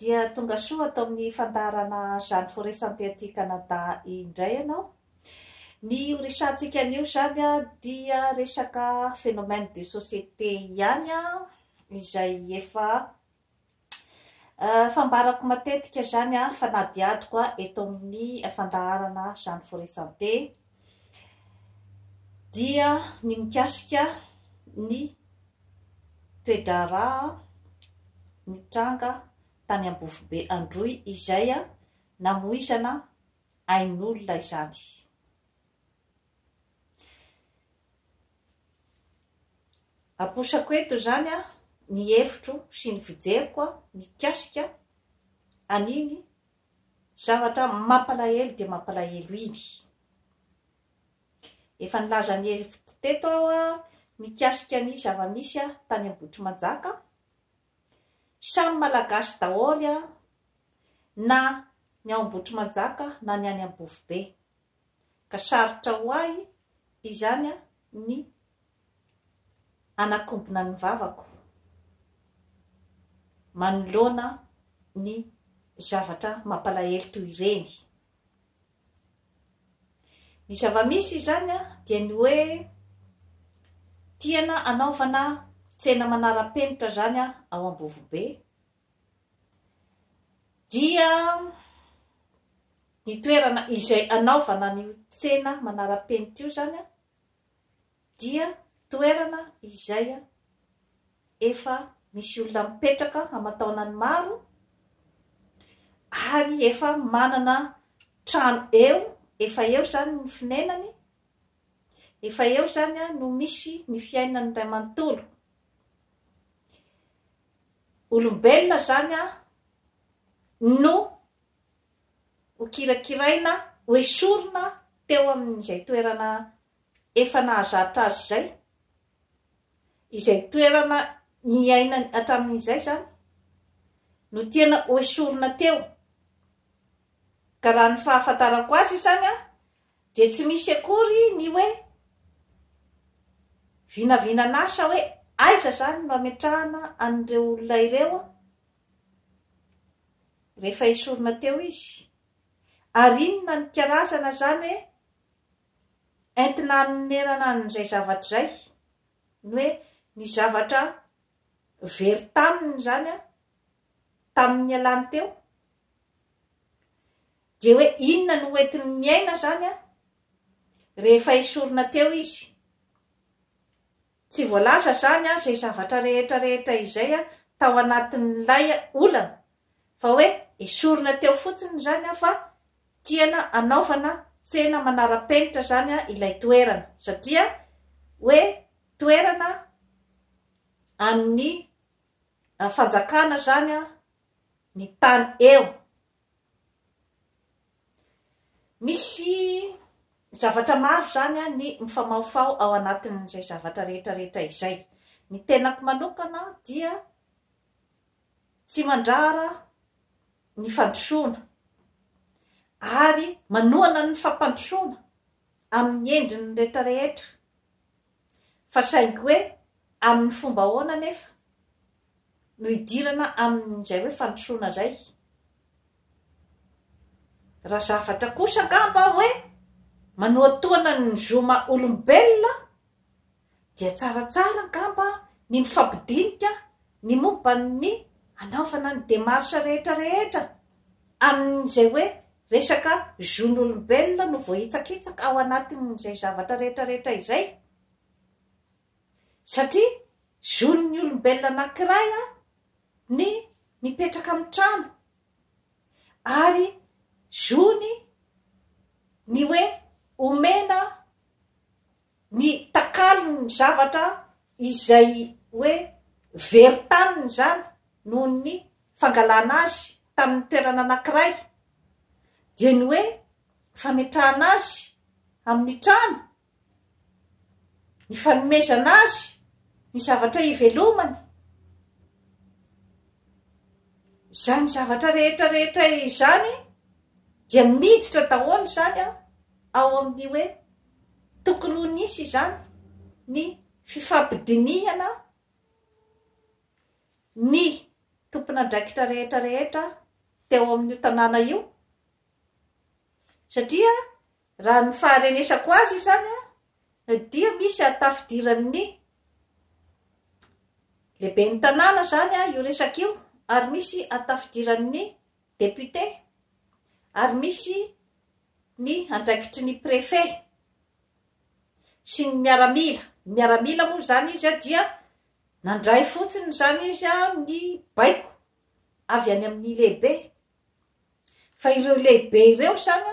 Dia tonga soa ato amin'ny fandaharana Jeanne Forêt Santé aty Canada indray ianao. Ny ho resahantsika anio izany dia resaka phénomène de société ihany izay efa fambarako matetika izany fanadihadiko eto amin'ny fandaharana Jeanne Forêt Santé. dia ny mikasika ny toe-draharaha nitranga tany Ambofobe Androy izay namoizana ain'olona izany. Aposako eto izany ny hevitro sy ny fijeriko mikasika an'iny Zavatra mampalahelo dia mampalahelo iny. Efa nilaza an'i Hery teto aho mikasika ny zava-misy tany Ambohitrimanjaka. Samy Malagasy daholo na ny ao Ambohitrimanjaka na ny any Ambofobe. ka sarotra ho ahy izany ny hanakombona ny vavako manoloana ny zavatra mampalahelo toy ireny. Ny zava-misy izany dia ny hoe tiana hanaovana tsena manara-penitra izany ao Ambovobe, dia ny toerana izay anaovana an'io tsena manara-penitra io izany dia toerana izay efa misy olona mipetraka aman-taonany maro ary efa manana trano eo, efa eo izany ny fonenany, efa eo izany no misy ny fiainany iray manontolo. Olombelona izany an, no hokirakiraina, hoesorina teo amin'izay toerana efa nahazatra azy izay, izay toerana niainany hatramin'izay izany no tiana hoesorina teo, ka raha ny fahafantarako azy izany an, Dia tsy misy akory ny hoe vinavinan'asa hoe aiza izany no hametrahana an'ireo olona ireo rehefa esorina teo izy. Ary inona ny karazana izany hoe entina hanonerana an'izay zavatra izay, ny hoe ny zavatra very taminy izany tamin'ny nialany teo? Dia hoe inona no hoentiny miaina izany an? Rehefa esorina teo izy. Tsy voalaza izany an izay zavatra rehetra rehetra izay an tao anatin'ilay olana, fa hoe esorina teo fotsiny izany an fa tiana anaovana tsena manara-penitra izany an ilay toerana, satria hoe toerana an'ny fanjakana izany an ny tany eo. Misy zavatra maro izany ny mifamahofaho ao anatin'izay zavatra rehetra rehetra izay. Ny tenako manokana dia tsy mandrara ny fandrosoana ary manohana ny fampandrosoana amin'ny endriny rehetra rehetra. Fa saingy hoe amin'ny fomba ahoana anefa no hidirana amin'izay hoe fandrosoana izay? Raha zavatra kosa angamba hoe manohatohana ny zoma olombelona dia tsaratsara angamba ny mifampidinika ny momba ny hanaovana ny démarche rehetra rehetra. amin'izay hoe resaka zon'olombelona no voahitsakitsaka ao anatin'izay zavatra rehetrarehetra izay, satria zon'ny olombelona anankiray ny mipetraka amin'ny trano ary zony ny hoe omena ny takalony ny zavatra izay hoe very taminy izany noho ny fangalana azy tamin'ny toerana anankiray dia ny hoe fametrahana azy amin'ny trano, ny fanomezana azy ny zavatra ivelomany, izany zavatra rehetra rehetra izany dia miditra daholo izany ao amin'ny hoe Tokony ho nisy izany ny fifampidinihana ny tompon'andraikitra rehetra rehetra teo amin'io tanàna io satria raha ny faharenesako azy izany dia misy hatafidiran'ny lehiben'ny tanàna izany io resaka io ary misy hatafidiran'ny Député, ary misy ny andraikitry ny Préfet sy ny miaramila, ny miaramila moa izany izy dia nandray fotsiny izany izy ny baiko avy any amin'ny lehibe, fa ireo lehibe ireo izany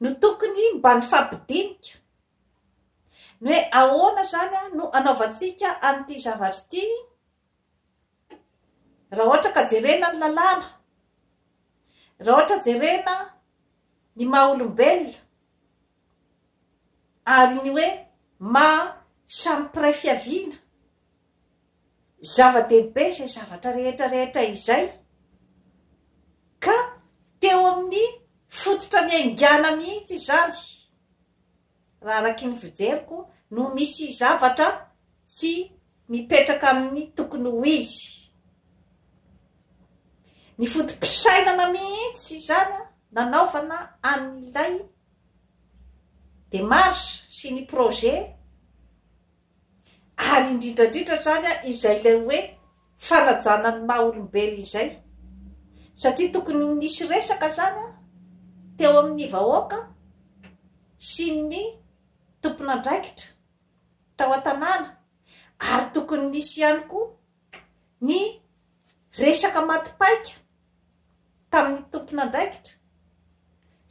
no tokony mba nifampidinika ny hoe ahoana izany no anaovantsika an'ity zavatra ity, Raha ohatra ka jerena ny lalàna, raha ohatra jerena ny maha olombelona, ary ny hoe maha samy mpiray fiaviana, zava-dehibe izay zavatra rehetra rehetra izay, ka teo amin'ny fototra niaingàna mihitsy izany. raha araky ny fijeriko no misy zavatra tsy mipetraka amin'ny tokony ho izy. Ny foto-pisainana mihitsy izany nanaovana an'ilay démarche sy ny projet ary indrindra indrindra izany izay ilay hoe fanajana ny maha olombelona izay satria tokony ho nisy resaka izany teo amin'ny vahoaka sy ny tompon'andraikitra tao an-tanàna ary tokony nisy ihany koa ny resaka maty paika tamin'ny tompon'andraikitra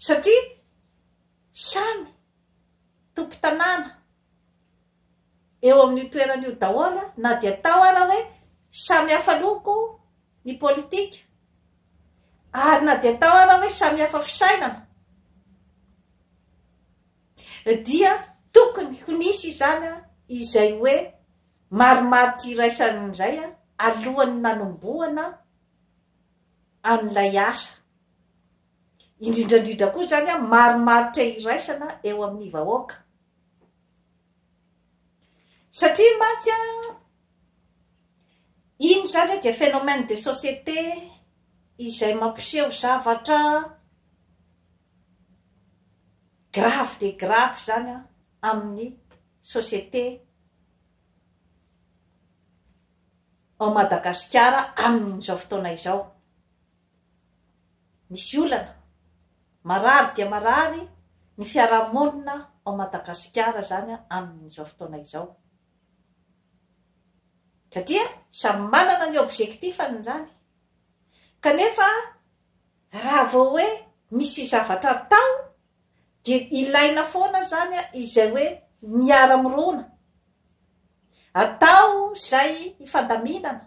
satria samy tompo-tanàna eo amin'io toerana io daholo na dia tao ara hoe samy hafa loko ny politika ary na dia tao ara hoe samy hafa fisainana dia tokony ho nisy izany a izay hoe marimaritra iraisan'izay a alohan'ny nanombohana an'ilay asa Indrindra indrindra koa izany marimaritra iraisana eo amin'ny vahoaka. Satria mantsy iny izany dia phénomène de société izay mampiseho zavatra grave dia grave izany amin'ny société ao Madagasikara amin'izao fotoana izao. Misy olana, marary dia marary ny fiarahamonina ao Madagasikara izany amin'izao fotoana izao. Satria samy manana ny objectif-ny izany. Kanefa raha vao hoe misy zavatra atao dia ilaina foana zany izay hoe miara mirona atao zay hifandaminana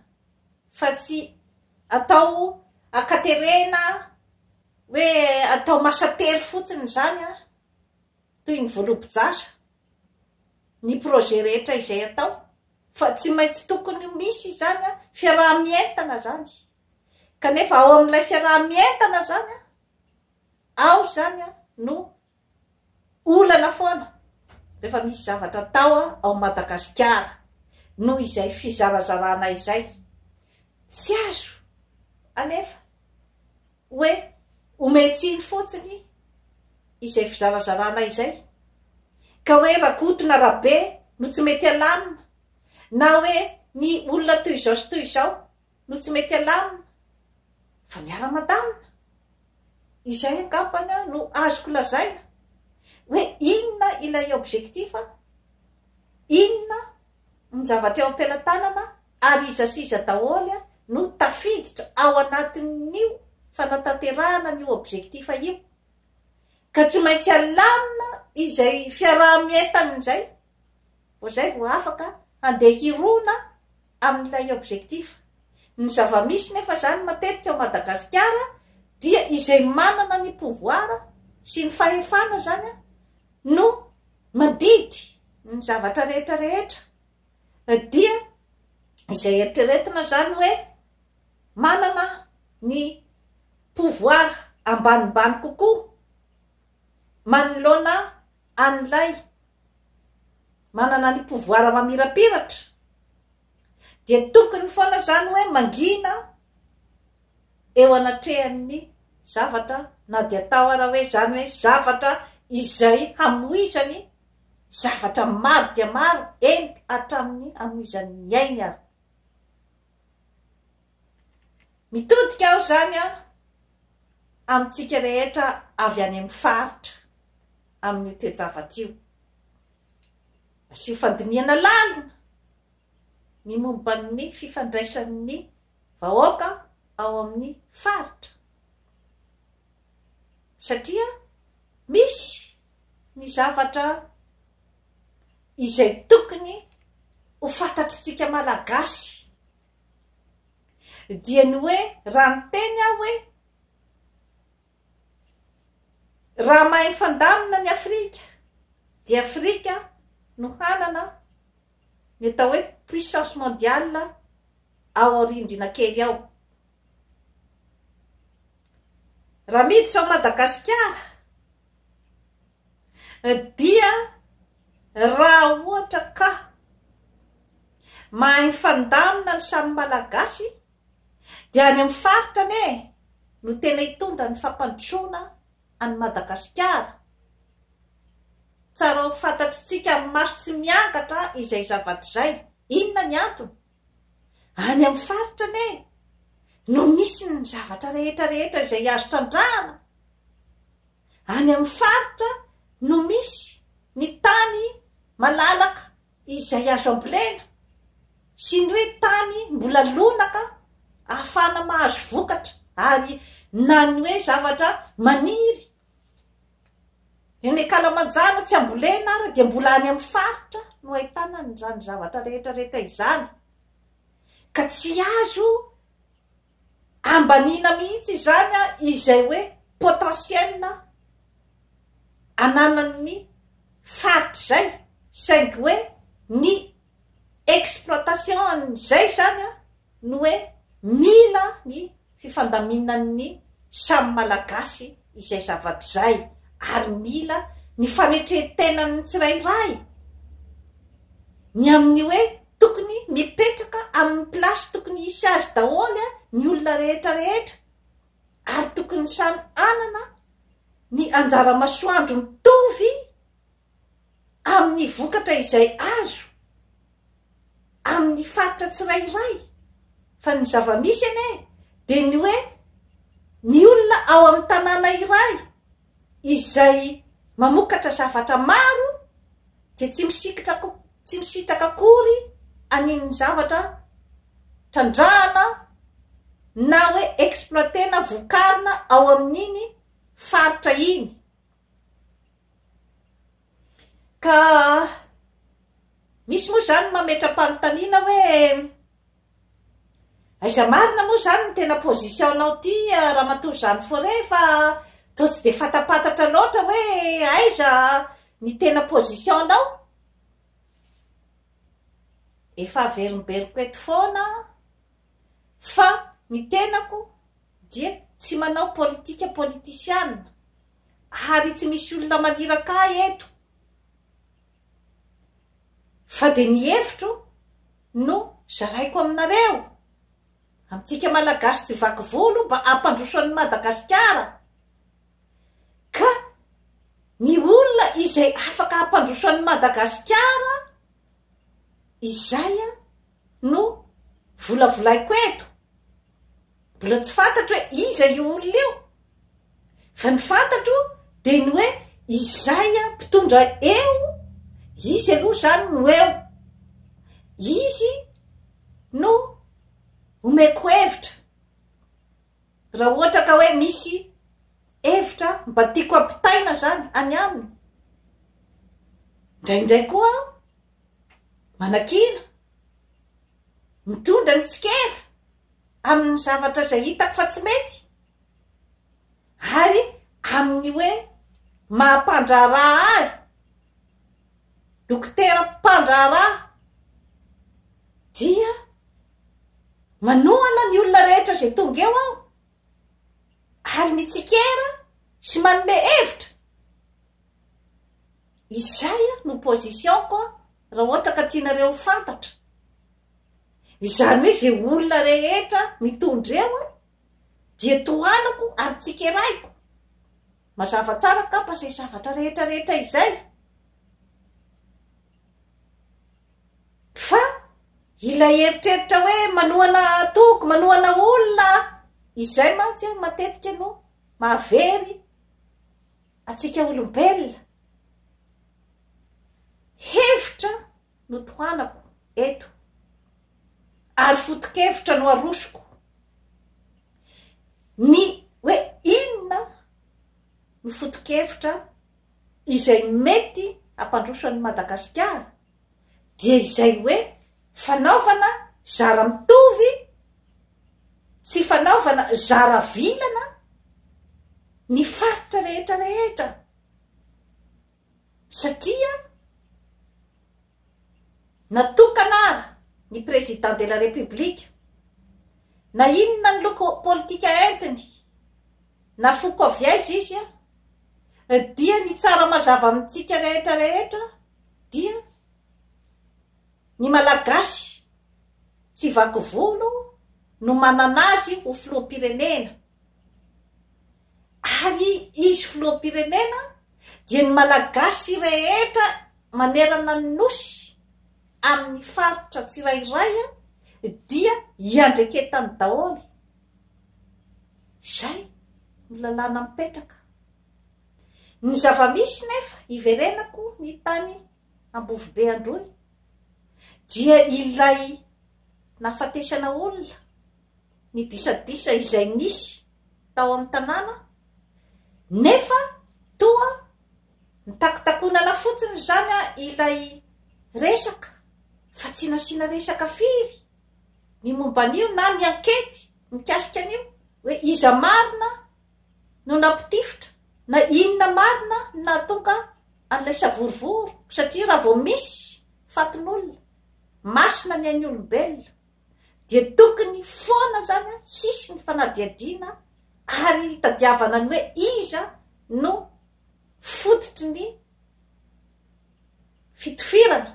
fa tsy atao akaterena hoe atao masatery fotsiny zany an toy ny volobojasa ny projet rehetra izay atao fa tsy maintsy tokony ho misy zany an fiaraha-mientana zany kanefa ao amin'ilay fiaraha-mientana zany an ao izany no olana foana rehefa misy zavatra atao ao Madagasikara noho izay fizarazarana izay. Tsy azo alefa hoe omen tsiny fotsiny izay fizarazarana izay ka hoe Rakoto na Rabe no tsy mety alamina na hoe ny olona toy izao sy toy izao. no tsy mety alamina fa miara-mandamina. Izay angambany no azoko lazaina hoe inona ilay objectif, inona ny zavatra eo am-pelatanana ary iza sy iza daholo no tafiditra ao anatin'io fanatanterahana an'io objectif io. Ka tsy maintsy alamina izay fiaraha-mientana izay. Vao zay vao afaka handeha hirona amin'ilay objectif. Ny zava-misy nefa zany matetika ao Madagasikara dia izay manana ny pouvoir sy ny fahefana zany no mandidy ny zavatra rehetra rehetra dia izay eritreretina zany hoe manana ny pouvoir ambanimbany kokoa manoloana an'ilay manana ny pouvoir mamirapiratra dia tokony foana izany hoe mangina eo anatrehan'ny zavatra na dia atao ara hoe izany hoe zavatra izay hamoizany zavatra maro dia maro eny hatramin'ny hamoizan'ny ainy ary Mitodika aho izany an, amintsika rehetra avy any amin'ny faritra amin'io toe-javatra io. Asio fandinihana lalina ny momba ny fifandraisan'ny vahoaka ao amin'ny faritra, satria misy ny zavatra izay tokony ho fantatr'isika Malagasy. dia ny hoe raha niteny aho hoe raha mahay mifandamina ny Afrika dia Afrika no hanana ny atao hoe puissance mondiale ao aorindrina kely ao raha miditra ao Madagasikara Dia raha ohatra ka mahay mifandamina ny samy Malagasy dia any amin'ny faritra anie no tena hitondra ny fampandrosoana an'i Madagasikara. Tsara ho fantatr'itsika amin'ny maso tsy miangatra izay zavatra izay. Inona ny antony? Any amin'ny faritra anie no misy ny zavatra rehetra rehetra izay azo trandrahana, any amin'ny faritra no misy ny tany malalaka izay azo ambolena sy ny hoe tany mbola lonaka ahafahana mahazo vokatra ary na ny hoe zavatra maniry Eny Kalamanjana tsy ambolena ary dia mbola any amin'ny faritra no ahitana an'izany zavatra rehetra rehetra izany ka tsy azo ambaniana mihitsy izany izay hoe potentiel ananan'ny faritra izay saingy hoe ny exploitation an'izay zany an, ny hoe mila ny fifandaminan'ny samy Malagasy izay zavatra izay ary mila ny fanetren-tenan'ny tsirairay ny amin'ny hoe tokony mipetraka amin'ny place tokony hisy azy daholo an, ny olona rehetra rehetra ary tokony samy hanana ny anjara-masoandro mitovy. amin'ny vokatra izay azo amin'ny faritra tsirairay fa ny zava-misy anie dia ny hoe ny olona ao amin'ny tanàna iray izay mamokatra zavatra maro dia tsy misikitra ko tsy misitraka akory an'iny zavatra trandrahana na hoe exploiter-na vokarina ao amin'iny faritra iny Ka misy moa izany mametra-panontaniana hoe aiza marina moa izany ny tena position-nao ity Ramatoa Jeanne Forey fa toa tsy dia fantampantatra loatra hoe aiza ny tena position-nao? Efa averimberiko eto foana an! fa ny tenako dia tsy manao politika politisiana ary tsy misy olona maniraka ahy eto fa dia ny hevitro no zaraiko aminareo amintsika malagasy tsy vaky volo mba hampandroso an'i Madagasikara ka ny olona izay afaka hampandroso an'i Madagasikara izay no volavolaiko eto, mbola tsy fantatro hoe iza io olona io, fa ny fantatro dia ny hoe izay mpitondra eo, izy aloha izany no eo, izy no omeko hevitra raha ohatra ka hoe misy hevitra mba tiako ampitaina izany any aminy, indraindray koa aho manakiana, mitondra ny tsikera amin'ny zavatra izay hitako fa tsy mety, ary amin'ny hoe maha-mpandraharaha ahy, dokotera mpandraharaha, dia manohana ny olona rehetra izay tonga eo aho, ary mitsikera sy manome hevitra. Izay no position ko raha ohatra ka tianareo ho fantatra. Izany hoe izay olona rehetra mitondra eo an, dia tohanako ary tsikeraiko. Mazava tsara angamba izay zavatra rehetra rehetra izay. Fa ilay eritreritra hoe manohana toko, manohana olona, izay mantsy an matetika no mahavery Antsika olombelona, hevitra no tohanako eto ary foto-kevitra no arosoko. Ny hoe inona no foto-kevitra izay mety hampandroso an'i Madagasikara dia izay hoe fanaovana zara mitovy tsy fanaovana zara vilana ny faritra rehetra rehetra satria natokana ara ny président de la république na inona ny loko politika entiny na foko avy aiza izy a dia ny tsara mazava amintsika rehetra rehetra Dia ny Malagasy tsy vaky volo no manana azy ho filoham-pirenena. Ary izy filoham-pirenena dia ny Malagasy rehetra manerana ny Nosy amin'ny faritra tsirairay dia iandreketany daholo. Izay no lalàna mipetraka. Ny zava-misy nefa iverenako ny tany Ambovobe Androy dia ilay nahafatesana olona, ny disadisa izay nisy tao amin'ny tanàna nefa toa nitakotakonana fotsiny izany ilay resaka fa tsy nasiana resaka firy ny momba an'io na ny ankety mikasika an'io hoe iza marina no nampitifitra na inona marina no nahatonga an'ilay savorovoro satria raha vao misy fatin'olona masina ny ain'ny olombelona dia tokony foana zany hisy ny fanadihadiana ary hitadiavana ny hoe iza no fototry ny fitofirana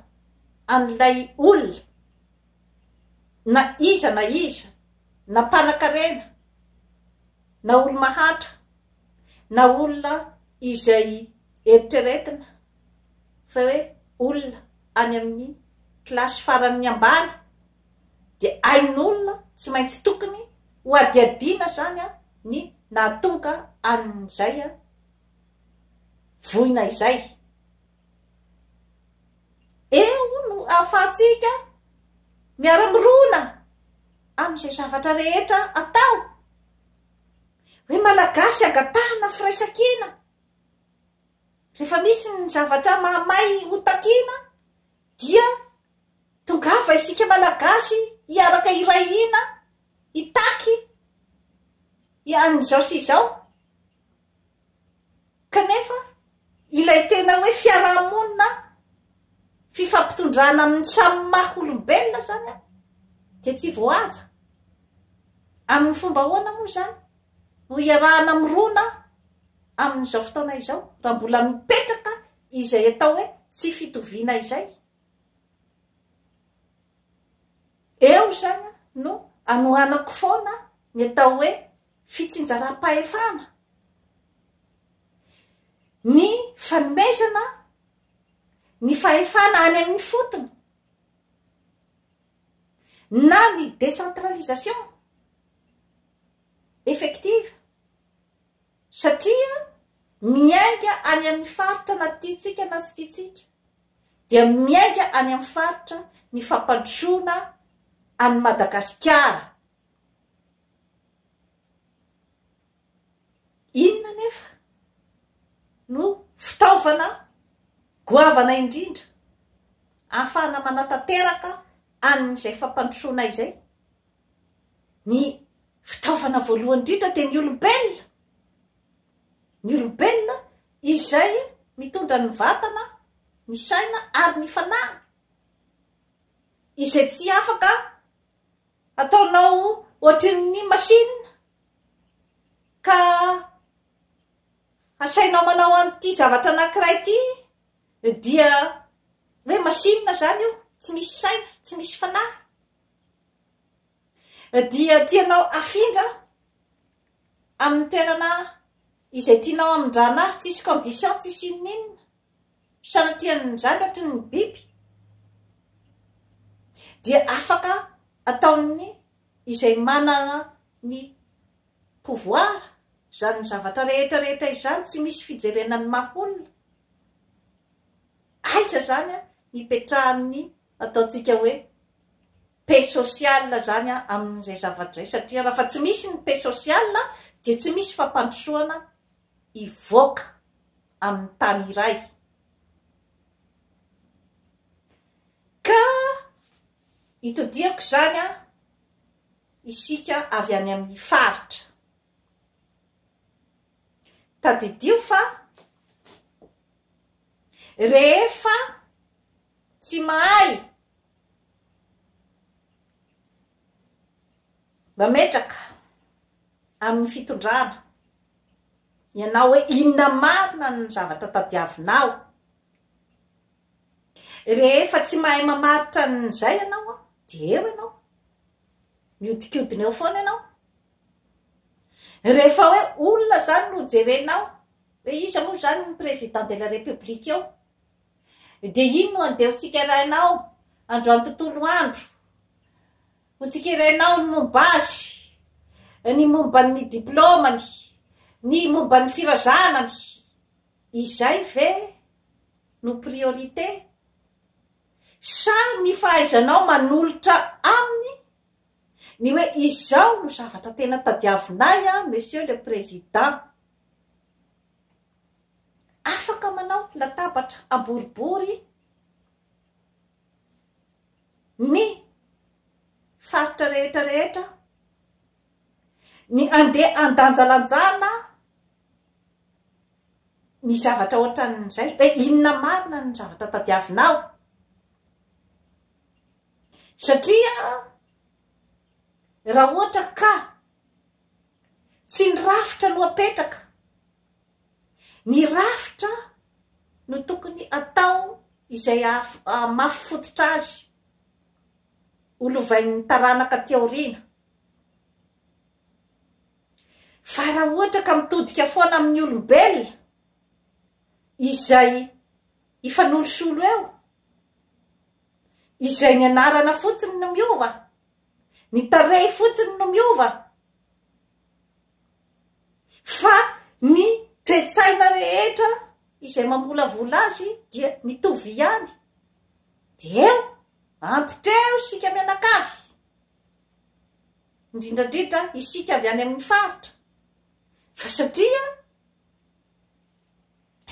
an'ilay olona na iza na iza na mpanakarena na olo-mahantra, na olona izay eritreretina fa hoe olona any amin'ny kilasy faran'ny ambany dia ain'olona tsy maintsy tokony hohadihadiana izany ny nahatonga an'izay voina izay. Eo no ahafahantsika miara-mirona amin'izay zavatra rehetra atao. Hoe malagasy angatahana firaisankina. Rehefa misy ny zavatra mahamay ho takiana dia tongava isika malagasy hiaraka iray hina hitaky an'izao sy izao. Kanefa ilay tena hoe fiaraha-monina, fifampitondrana amin'ny samy maha olombelona izany dia tsy voahaja. Amin'ny fomba ahoana moa izany no iarahana mirona amin'izao fotoana izao raha mbola mipetraka izay atao hoe tsy fitoviana izay? Eo izany no anohanako foana ny atao hoe fitsinjaram-pahefana, ny fanomezana ny fahefana any amin'ny fotony na ny décentralisation effective satria miainga any amin'ny faritra na tiantsika na tsy tiantsika dia miainga any amin'ny faritra ny fampandrosoana an'i Madagasikara. Inona anefa no fitaovana goavana indrindra ahafahana manatanteraka an'izay fampandrosoana izay? Ny fitaovana voalohany indrindra dia ny olombelona. Ny olombelona izay mitondra ny vatana, ny saina ary ny fanahy, izay tsy afaka Ataonao ohatrin'ny machine ka asainao manao an'ity zavatra anankiray ity dia hoe machine izany io, tsy misy saina, tsy misy fanahy dia tianao afindra amin'ny toerana izay tianao hamindrana azy, tsisy condition, tsisy inon'inona. samy tia ny zandratry ny biby dia afaka ataon'ny izay manana ny pouvoir izany zavatra rehetra rehetra izany tsy misy fijerena ny maha olona aiza izany an ny petrahan'ny ataontsika hoe paix sociale izany an amin'izay zavatra izay satria raha fa tsy misy ny paix sociale dia tsy misy fampandrosoana hivoaka amin'ny tany iray, ka itodihako izany an, isika avy any amin'ny faritra. Tadidio fa rehefa tsy mahay Mametraka amin'ny fitondrana ianao hoe inona marina ny zavatra tadiavinao. Rehefa tsy mahay mamaritra an'izay ianao dia eo ianao, mihodinkodina eo foana ianao. Rehefa hoe olona izany no jerenao, hoe iza moa izany ny président de la république eo? Dia iny no andevotsika raha ianao androany tontolo andro. Ho tsikerainao ny momba azy, ny momba ny diplaomany, ny momba ny firazanany. Izay ve no priorité? Sa ny fahaizanao manolotra aminy ny hoe izao no zavatra tena tadiavinay an Monsieur le Président. Afaka manao latabatra amboribory ny faritra rehetra rehetra ny andeha andanjalanjana ny zavatra ohatran'izay hoe inona marina ny zavatra tadiavinao satria raha ohatra ka tsy ny rafitra no apetraka Ny rafitra no tokony atao izay hahamafy fototra azy ho lovain'ny taranaka aty aoriana. Fa raha ohatra ka mitodika foana amin'ny olombelona izay hifanolosolo eo, izay ny anarana fotsiny no miova, ny tarehy fotsiny no miova, fa ny toe-tsaina rehetra izay mamolavola azy dia mitovy ihany, dia eo antitra eo isika mianakavy, indrindra indrindra isika avy any amin'ny faritra, fa satria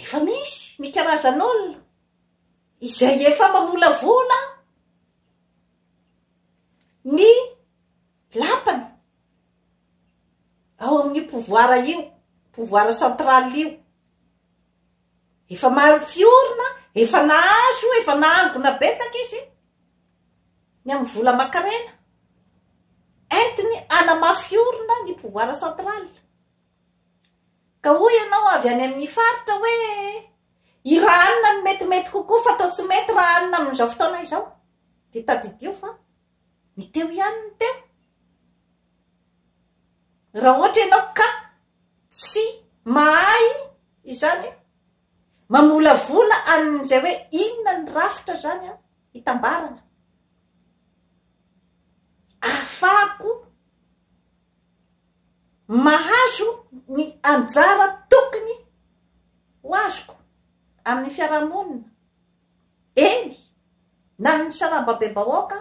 efa misy ny karazan'olona izay efa mamolavola ny. Lapana ao amin'io pouvoir io, pouvoir central io. Efa maro fiorina, efa nahazo, efa nahangona betsaka izy ny amin'ny vola aman-karena entiny hanamafy orina ny pouvoir central. Ka hoy ianao avy any amin'ny faritra hoe i raha anona no metimety kokoa fa toa tsy mety raha anona amin'izao fotoana izao. Dia tadidio fa Ny teo ihany ny teo. Raha ohatra ianao ka tsy mahay izany mamolavola an'izay hoe inona ny rafitra izany hitambarana, ahafahako mahazo ny anjara tokony ho azoko amin'ny fiarahamonina. Eny, na ny sarambabem-bahoaka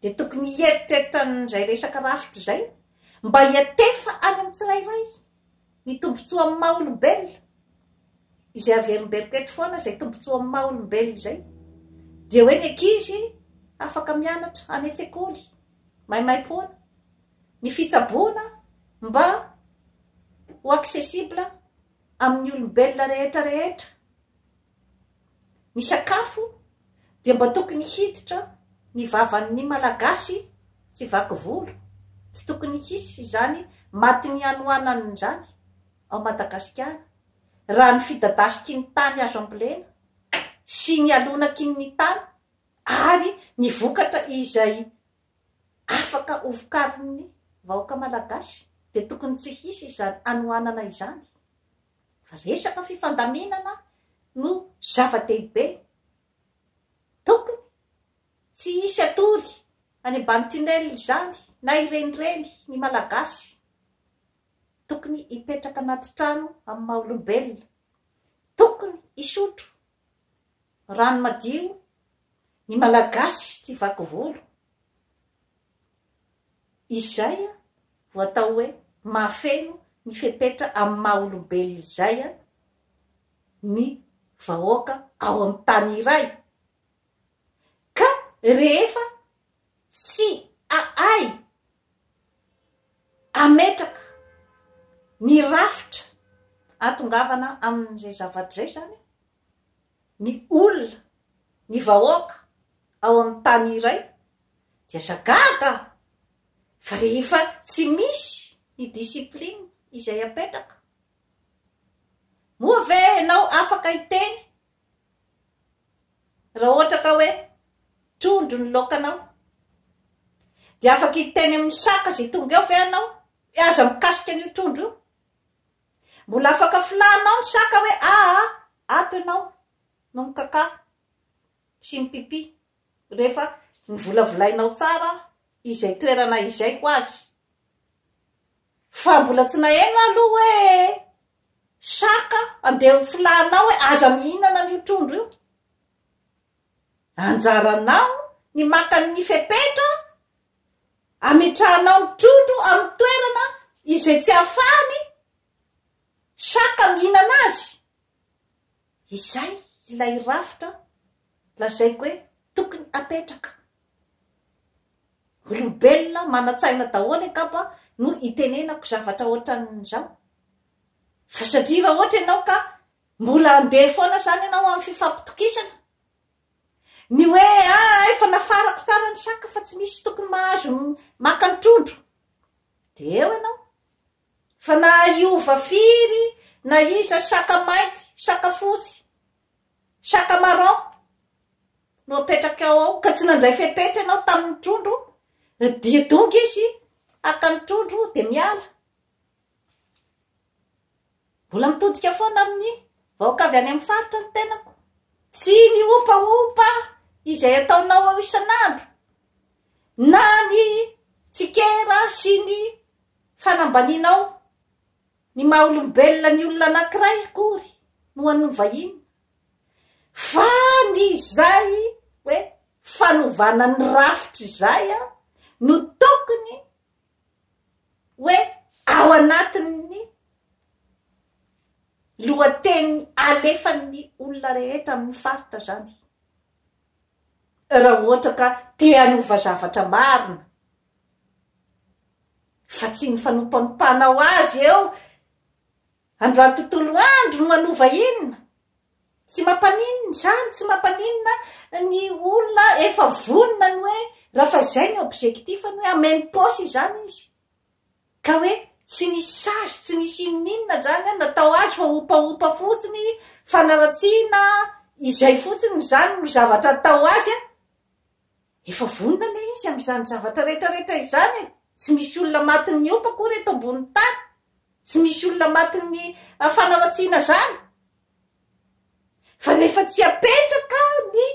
dia tokony hieritreritra an'izay resaka rafitra izay mba hiantefa any amin'ny tsirairay ny tombontsoa amin'ny maha olombelona. Izay averimberiko eto foana izay tombontsoa amin'ny maha olombelona izay dia hoe ny ankizy afaka mianatra any an-tsekoly maimaim-poana, ny fitsaboana mba ho accessible amin'ny olombelona rehetra rehetra. ny sakafo dia mba tokony hiditra ny vavan'ny malagasy tsy vaky volo, tsy tokony hisy izany matin'ny hanohanana izany ao Madagasikara raha ny fidadasiky ny tany azo ambolena sy ny alonaky ny tany ary ny vokatra izay afaka ho vokarin'ny vahoaka malagasy dia tokony tsy hisy izany hanohanana izany. Fa resaka fifandaminana no zava-dehibe. Tokony tsy hisy hatory any ambany tunnel izany na irenireny ny Malagasy. Tokony hipetraka anaty trano amin'ny maha olombelona. Tokony hisotro rano madio ny Malagasy tsy vaky volo. Izay vao atao hoe mahafeno ny fepetra amin'ny maha olombelona izay ny vahoaka ao amin'ny tany iray. Ka rehefa tsy ahay ametraka ny rafitra ahatongavana amin'izay zavatra izay izany, ny olona, ny vahoaka ao amin'ny tany iray dia aza gaga fa rehefa tsy misy ny discipline izay apetraka moa ve ianao afaka hiteny raha ohatra ka hoe trondro ny laokanao dia afaka hiteny amin'ny saka izay tonga eo ve ianao hoe aza mikasika an'io trondro io? Mbola afaka filaninao ny saka hoe aa ato ianao no mikakà sy mipipi rehefa novolavolainao tsara izay toerana izay ho azy. Fa mbola tsy naheno aho aloha hoe saka andeha ho filaninao hoe aza mihinana an'io trondro io. Anjaranao ny maka ny fepetra Ametrahanao ny trondro amin'ny toerana izay tsy ahafahan'ny saka mihinana azy. Izay ilay rafitra lazaiko hoe tokony apetraka. Olombelona manan-tsaina daholo angamba no itenenako zavatra ohatran'izao. Fa satria raha ohatra ianao ka mbola andeha foana izany ianao amin'ny fifampitokisana, Ny hoe aa efa nafarako tsara ny saka fa tsy misy tokony mahazo maka ny trondro dia eo ianao fa na hiova firy na iza saka mainty, saka fotsy, saka marron no apetrakao ao ka tsy nandray fepetra ianao tamin'ny trondro dia tonga izy haka ny trondro dia miala. Mbola mitodika foana amin'ny vahoaka avy any amin'ny faritra ny tenako. Tsy ny ompaompa izay ataonao ao isan'andro, na ny tsikera sy ny fanambanianao ny maha olombelona ny olona anankiray akory no hanovaina, fa ny izay hoe fanovana ny rafitra izay no tokony hoe ao anatin'ny lohateny alefan'ny olona rehetra amin'ny faritra izany raha ohatra ka te hanova zavatra marina fa tsy ny fanompanompanao azy eo Androany tontolo andro no hanova inona? Tsy mampaninona izany, tsy mampaninona ny olona efa vonona ny hoe raha fa izay ny objectif-ny hoe hameno paosy izany izy ka hoe tsy nisy sazy, tsy nisy inoninona izany an, natao azy fa hopahopa fotsiny, fanaratsiana izay fotsiny izany no zavatra atao azy an! Efa vonona anie izy amin'izany zavatra rehetra rehetra izany e! Tsy misy olona matin'ny hopa akory eto ambonin'ny tany! Tsy misy olona matin'ny fanaratsiana izany! Fa rehefa tsy apetraka ny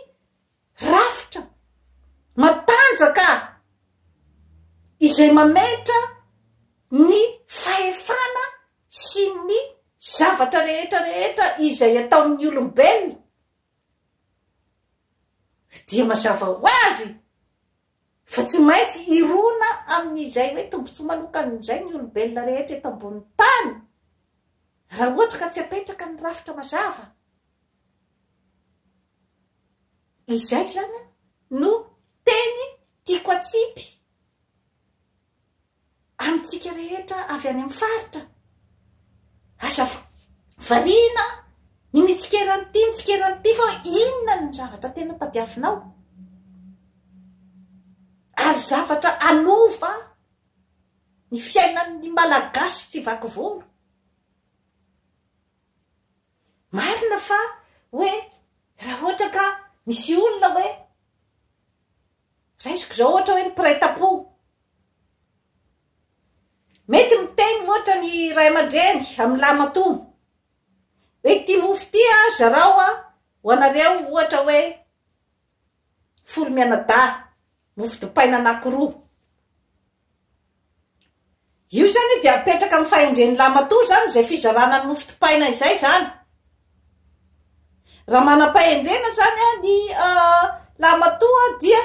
rafitra matanjaka izay mametra ny fahefana sy ny zavatra rehetra rehetra izay ataon'ny olombelona, Dia mazava ho azy fa tsy maintsy hirona amin'izay hoe tombontsoa manokan'izay ny olombelona rehetra eto ambonin'ny tany raha ohatra ka tsy apetraka ny rafitra mazava. Izay izany no teny tiako atsipy. amintsika rehetra avy any amin'ny faritra. Aza variana ny mitsikera an'ity, mitsikera an'ity fa inona ny zavatra tena tadiavinao? Ary zavatra anova ny fiainan'ny malagasy tsy vaky volo. Marina fa hoe raha ohatra ka misy olona hoe raisiko izao ohatra hoe ny mpiray tampo Mety miteny ohatra ny ray aman-dreny amin'ny lahimatoa hoe ity mofo ity zarao ho anareo ohatra hoe folo mianadahy, mofo dipaina anankiroa. Io izany dia mipetraka amin'ny fahendren'ny lahimatoa izany izay fizarana ny mofo dipaina izay izany. Raha manam-pahendrena izany ny lahimatoa dia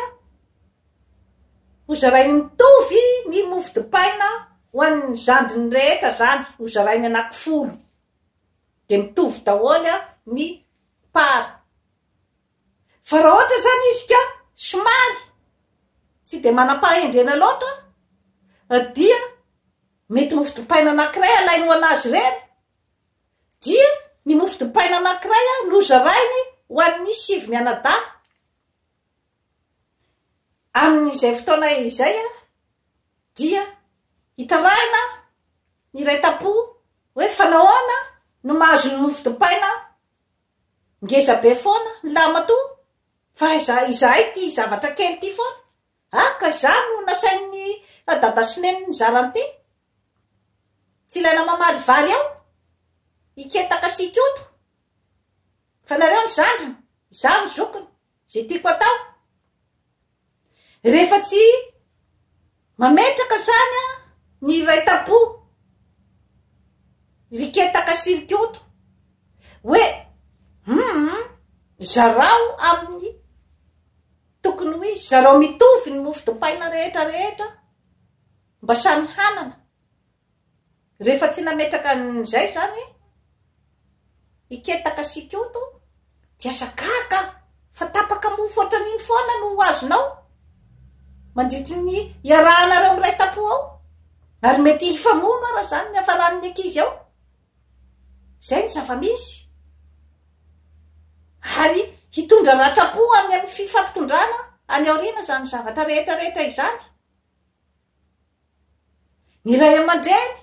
Hozarainy mitovy ny mofo dipaina ho an'ny zandriny rehetra zany hozarainy anaky folo de mitovy daholo ny part fa raha ohatra zany izy ka somary tsy de manam-pahendrena loatra dia mety mofo dipaina anakiray alainy ho anazy ireny dia ny mofo dipaina anakiray no zarainy ho an'ny sivy mianadahy. Amin'izay fotoana izay dia hitarahina ny iray tam-po hoe fa nahoana no mahazo ny mofo dipaina ngeza be foana ny lahimatoa fa izahay ity zavatra kely ity foana, ah ka izany no nasain'i dada sy neny nizara an'ity? tsy ilaina mamaly vary ao? hiketaka sy hikoto? Fa nareo ny zandriny, izaho ny zokiny, izay tiako atao. Rehefa tsy mametraka izany ny iray tam-po, ry ketaka sy ry koto, hoe hum, zarao amin'ny tokony ho izy, zarao mitovy ny mofo dipaina rehetra rehetra mba samy hanana. Rehefa tsy nametraka an'izay izany i Ketaka sy Ikoto dia aza gaga aho fa tapaka mofo ohatran'iny foana no ho azonao mandritry ny iarahanareo miray tampo ao ary mety hifamono ara izany ny hafaran'ny ankizy ao. Izay ny zava-misy. Ary hitondra ratram-po any amin'ny fifampitondrana any aoriana izany zavatra rehetra rehetra izany. Ny ray aman-dreny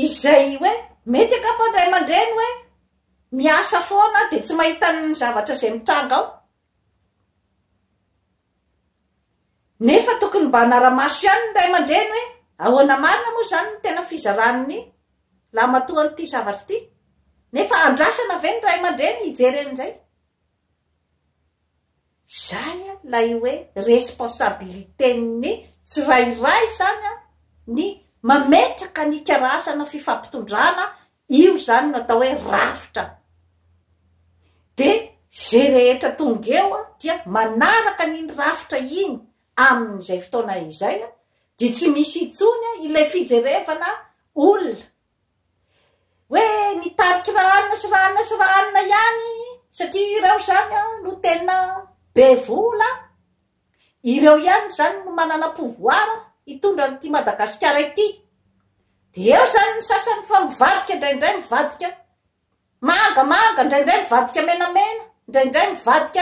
izay hoe mety angamba ny ray aman-dreny hoe miasa foana dia tsy mahita ny zavatra izay mitranga ao nefa tokony mba hanara-maso ihany ny ray aman-dreny hoe ahoana marina moa izany ny tena fizaran'ny lahimatoan'ity zavatra ity nefa andrasana ve ny ray aman-dreny hijery an'izay Izay ilay hoe responsabilité-n'ny tsirairay izany ny mametraka ny karazana fifampitondrana, io izany no atao hoe rafitra. Dia izay rehetra tonga eo dia manaraka an'iny rafitra iny amin'izay fotoana izay dia tsy misy intsony ilay fijerevana olona. hoe nitarika ra anona sy ra anona sy ra anona ihany satria ireo izany an no tena be vola ireo ihany izany no manana pouvoir hitondra an'ity madagasikara ity de eo izany ny sasany fa mivadika indraindray mivadika manga manga indraindray mivadika menamena indraindray mivadika